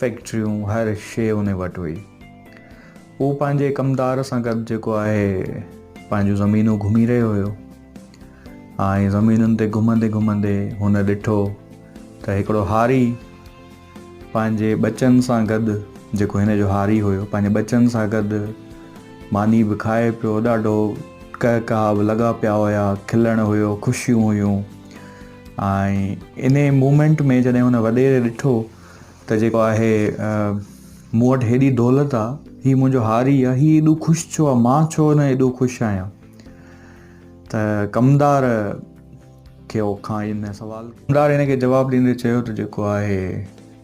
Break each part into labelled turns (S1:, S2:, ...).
S1: فيڪٽريون هر شيء ان وٽ هئي. هو پنهنجي ڪمدار سان گڏ جيڪو آهي پنهنجون زمينون گهمي رهيو هيو ۽ زمينن تي گهمندي گهمندي هن ڏٺو ته هڪڙو هاري پنهنجي ٻچن سان گڏ جيڪو هن جو هاري هيو پنهنجي ٻچن سان گڏ ماني به کائي پيو ڏاڍو ڪهڪاء به لڳا پيا هيا کلڻ هيو خوشيون هيون ۽ انهي مومينٽ ۾ جڏهن هن وڏيري ڏٺو ته جيڪو آهي مون وٽ هيڏي دولت آ هي منهنجو هاري آ هي ايڏو خوش ڇو آ مان ڇو نه ايڏو خوش آهيان ته ڪمدار کي اوکان ان سوال ڪمدار هن کي جواب ڏيندي چيو ته جيڪو آهي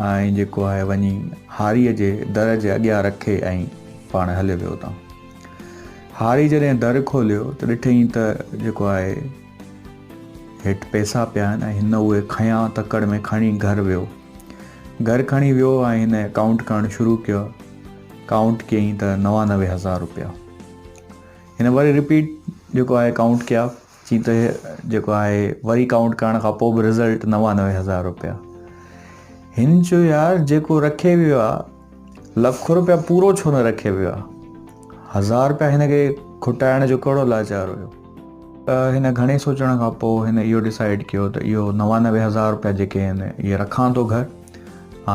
S1: ۽ جيڪو آهي وڃي هاريء جي در جي اڳيان رکي ۽ پاڻ هليو ويو اتان. هاري جڏهن در کوليو ته ڏٺئين ته جيڪو آهي هيٺ پئسا پيا آهن ۽ هن اهي کنيا تڪڙ ۾ کڻي گهر ويو. گهر کڻي ويو ۽ هن ڪائونٽ ڪرڻ شروع ڪيو. ڪائونٽ ڪيئين ته نوانوي هزار روپيا. هن وري رپيٽ جيڪو آهي ڪائونٽ ڪيا. جي ته جيڪو آهي وري ڪائونٽ ڪرڻ کان پوء به رزلٽ نوانوي هزار روپيا هن چيو يار جيڪو رکي ويو آ لک روپيا پورو ڇو نه رکي ويو آ هزار روپيا هن کي کٽائڻ جو ڪهڙو لاچار هيو هن گهڻي سوچڻ کان پوء هن اهو ڊسائيڊ ڪيو ته اهو نوانوي هزار روپيا جيڪي آهن اهي رکان ٿو گهر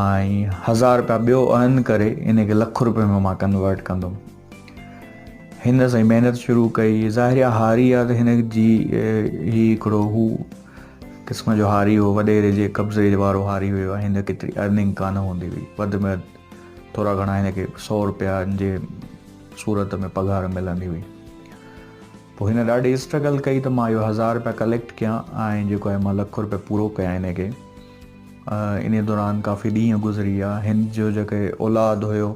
S1: ۽ هزار روپيا ٻيو ارن ڪري ان کي لک روپئي ۾ مان ڪنورٽ ڪندم هن سائين محنت شروع ڪئي ظاهر آ هاري آ ته هن جي هي هڪڙو هو قسم جو هاري هو وڏيري جي قبضي وارو هاري هيو هن ڪيتري ارننگ ڪانه هوندي هئي وڌ ۾ ٿورا گهڻا هن کي سو روپيا جي صورت ۾ پگهار ملندي هئي پوء هن ڏاڍي اسٽرگل ڪئي ته مان اهو هزار روپيا ڪليڪٽ ڪيا ۽ جيڪو آهي مان لک روپيا پورو ڪيا هن کي ان دوران ڪافي ڏينهن گذري ويا هن جو جيڪي اولاد هيو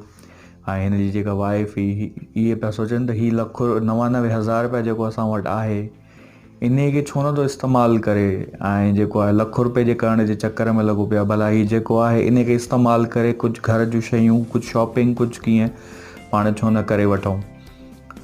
S1: ۽ هن جي جيڪا وائيف هئي اهي پيا سوچن ته هي لک نوانوي هزار رپيا جيڪو اسان وٽ آهي انهي کي ڇو نٿو استعمال ڪري ۽ جيڪو آهي لک رپئي جي ڪرڻ جي چڪر ۾ لڳو پيو آهي ڀلا هي جيڪو آهي انهي کي استعمال ڪري ڪجهه گهر جون شيون ڪجهه شاپنگ ڪجهه ڪيئن پاڻ ڇو نه ڪري وٺون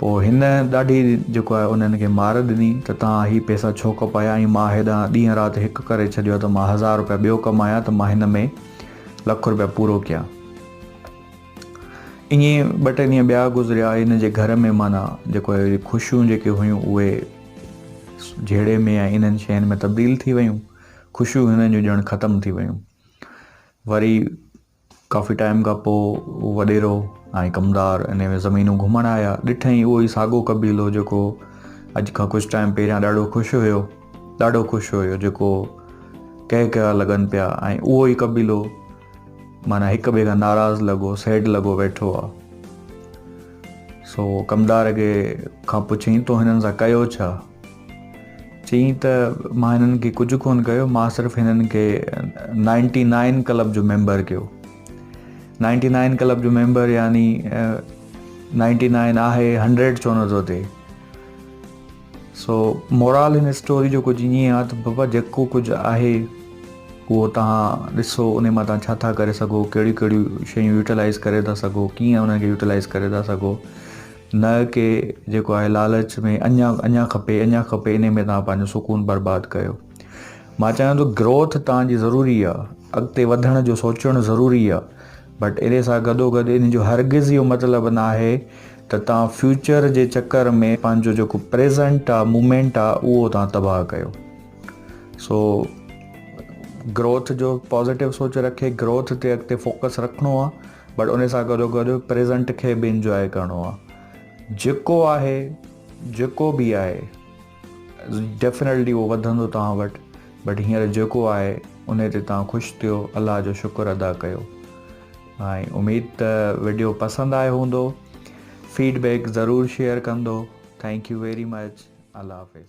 S1: پوء هن ڏاڍي جيڪو آهي انهن کي مار ڏني ته توهان هي پئسا ڇو کپايا ۽ مان هيڏانهن ڏينهن رات هڪ ڪري ڇڏيو آهي ته مان هزار روپيا ٻيو ڪمايان ته مان هن ۾ لک روپيا پورو ڪيان. ائين ٻه ٽي ڏينهن ٻيا گذريا هن جي گهر ۾ معنيٰ جيڪو آهي اهي خوشيون جيڪي هيون اهي جهيڙي ۾ ۽ انهن شين ۾ تبديل ٿي ويون خوشيون هنن جون ڄڻ ختم ٿي ويون وري ڪافي ٽائيم کان پوء هو وڏيرو ۽ ڪمدار انهيء ۾ زمينون گهمڻ آيا. ڏٺائين اهو ئي ساڳو قبيلو جيڪو اڄ کان ڪجهه ٽائيم پهريان ڏاڍو خوش هيو. ڏاڍو خوش هيو جيڪو ڪهڪها لڳن پيا ۽ اهو ئي قبيلو معنيٰ هڪ ٻئي کان ناراض لڳو سيڊ لڳو ويٺو آ. سو ڪمدار کي کان پڇيائين تو هنن سان ڪيو ڇا؟ چيائين ته مان هنن کي ڪجهه ڪونه ڪيو، مان صرف هنن کي نائنٽي نائن ڪلب جو ميمبر ڪيو. نائنٽي نائن ڪلب جو ميمبر يعني نائنٽي نائن آهي هنڊريڊ ڇو نه ٿو ٿئي. سو مورال هن اسٽوري جو ڪجهه ائين آهي ته بابا جيڪو ڪجهه آهي اهو تان ڏسو ان مان تان ڇا ٿا ڪري سگهو ڪهڙيون ڪهڙيون شيون يوٽيلائز ڪري ٿا سگهو ڪيئن انهن کي يوٽيلائز ڪري ٿا سگهو نه ڪي جيڪو آهي لالچ ۾ اڃا اڃا کپي اڃا کپي انهي ۾ توهان پنهنجو سڪون برباد ڪيو مان چاهيان ٿو گروٿ توهان جي ضروري آهي اڳتي وڌڻ جو سوچڻ ضروري آهي بٽ انهي سان گڏو گڏ ان جو هرگز اهو مطلب نه آهي ته توهان فيوچر جي چڪر ۾ پنهنجو جيڪو پريزنٽ آهي مومينٽ آهي اهو توهان تباهه ڪيو سو گروٿ جو پازيٽو سوچ رکي گروٿ تي اڳتي فوڪس رکڻو آهي بٽ ان سان گڏو گڏ پريزنٽ کي به انجواء ڪرڻو آ جيڪو آهي جيڪو به آهي ڊيفنيٽلي اهو وڌندو توهان وٽ بٽ هينئر جيڪو آهي ان تي توهان خوش ٿيو الله جو شڪر ادا ڪيو ۽ اميد ته ويڊيو پسند آيو هوندو فيڊبيڪ ضرور شيئر ڪندو ٿينڪ يو ويري مچ الله حافظ